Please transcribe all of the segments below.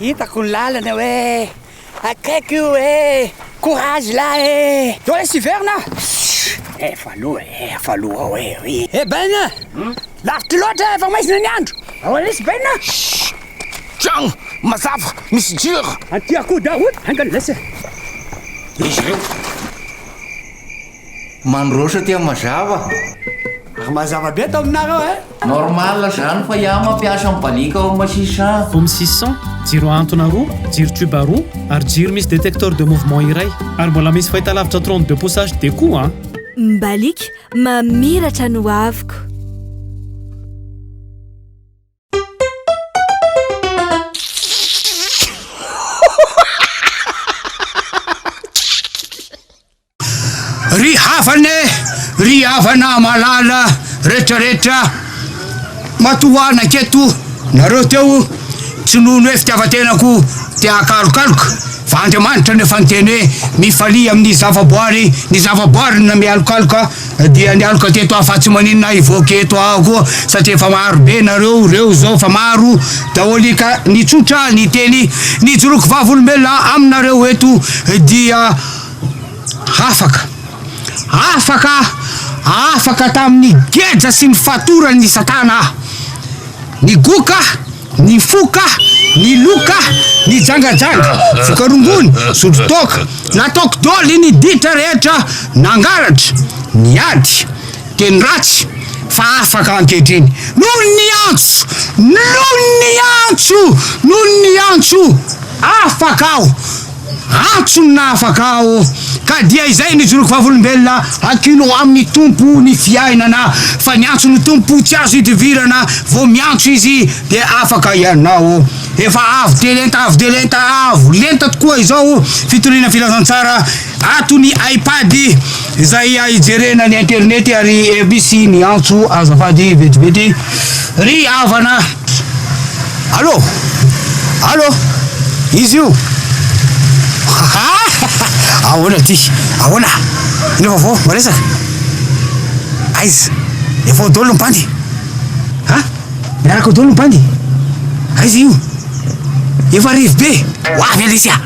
Hitako ny lalana hoe akaiky io e courage la e eo le siverina efa aloha e efa aloha ao e ry e baina lavitra loatra efa maizina ny andro ao lesy baina tragno mazava misy jiro anty akoho daroty angany lesy izy ireo Mandroso aty mazava. Ary mazava be ato aminareo eh. Normal zany fa iah mampiasa ny balika ao masisa an. Home six cent, jiro ahantona roa, jiro tube roa, ary jiro misy détecteur de mouvement iray. Ary mbola misy fahitalavitra trente deux pouces HD koa an. Ny balika mamiratra ny hoaviko. Ry havane, ry havana malala retraretra, matohana keto nareo teo, tsy noho ny hoe fitiavan-tenako te hakalokaloka fa Andriamanitra no efa niteny hoe mifalia amin'ny zavaboary ny zavaboary na mialokaloka Dia ny aloka teto aho fa tsy maninona hivoaka eto aho koa satria efa maro be nareo ireo izao fa maro daholy ka ny tsotra ny teny nijoroako vavolombelona aminareo eto dia afaka afaka afaka tamin'ny geja sy ny fatoran'ny satana aho ny goka Ny fo ka, ny loha ka, ny jangajanga, vokarongony, zodro toaka, nataoko doly ny ditra rehetra nangalatra, niady, teny ratsy, fa afaka ankehitriny, noho ny antso, noho ny antso, noho ny antso, afaka aho. Antso ny nahafaka aho, ka dia izay nijoroko vavolombelona, Hakiano amin'ny Tompo ny fiainana, fa ny antso ny Tompo tsy azo idivirana, vao miantso Izy dia afaka ianao. Efa avo dia lenta, avo dia lenta, avo lenta tokoa izao fitoriana filazantsara ato ny iPad. Izay hijerena ny internet ary FB sy ny antso azafady vetivety ry havana. Allo? Allo? Izy io? Ahoana ty? Ahoana? Inona vaovao? Maresaka? Aiza? Efa ao daholo ny bandy? Ha? Miaraka ao daholo ny bandy? Aiza io? Efa rivobe? Ho avy aloha izy a!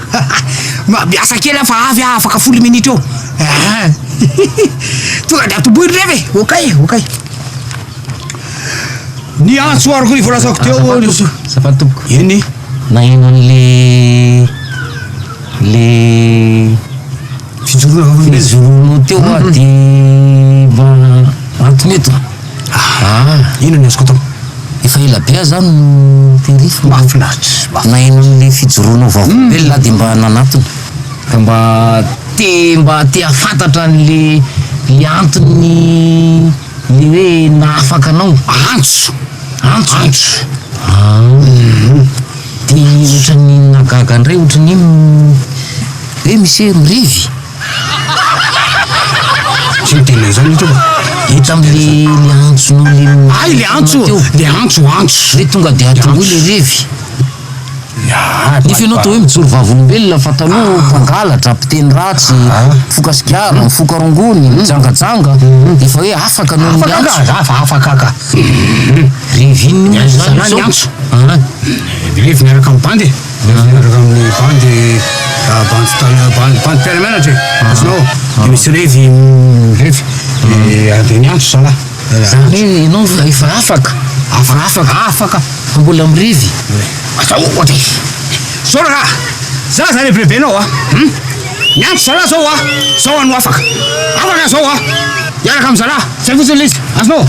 Miasa kely aho fa avy aho afaka folo minitra eo. Aa tonga de atombohy ry reva e, okay e, okay. Ny antso aroko ny voalazako teo eo ny so. Azafady tompoko. Eny. Naheno an'le le fijoroana vaovao le joroanao teo ah de mba antony eto. Aha. Inona ny azoko atao? Efa ela be ah za no tery fa mahafinaritra. Naheno an'le fijoroanao vaovao belona ah de mba nanatona ka mba Te mba te hafantatra an le le antony le hoe nahafaka anao. Antso! Antso! Antso! Ahh de otrany nahagaga ndray otrany hoe hoe misy hoe mirevy? Tsy miteny anzany eto aho fa. Hita am le le antsonao le. Ay le antso! Le antso antso! Hoe tonga de atomboy le revy. Nefa ianao atao hoe mijoro vavolombelona fa taloha mpangalatra, mpiteny ratsy, mifoka sigara, mifoka rongony, mijangajanga, efa hoe afaka noho ny antso. Afaka za fa afaka ka. Revin moa zany zao. Zalahy antso. Revy miaraka amin'ny bandy e. Revy miaraka amin'ny bandy bandy tany bandy mpiara-mianatra e. Azonao? Dia misy revy revy dia andiany antso zalahy. Zany hoe ianao efa afaka, afaka, afaka fa mbola mirevy? Aza ohatra e! Zao raha za zany rebirebenao a! Hum! Miantso zalahy zao a! Zao anao afaka! Afaka zao a! Hiaraka amin'ny zalahy! Zay fotsiny ilay izy! Azonao?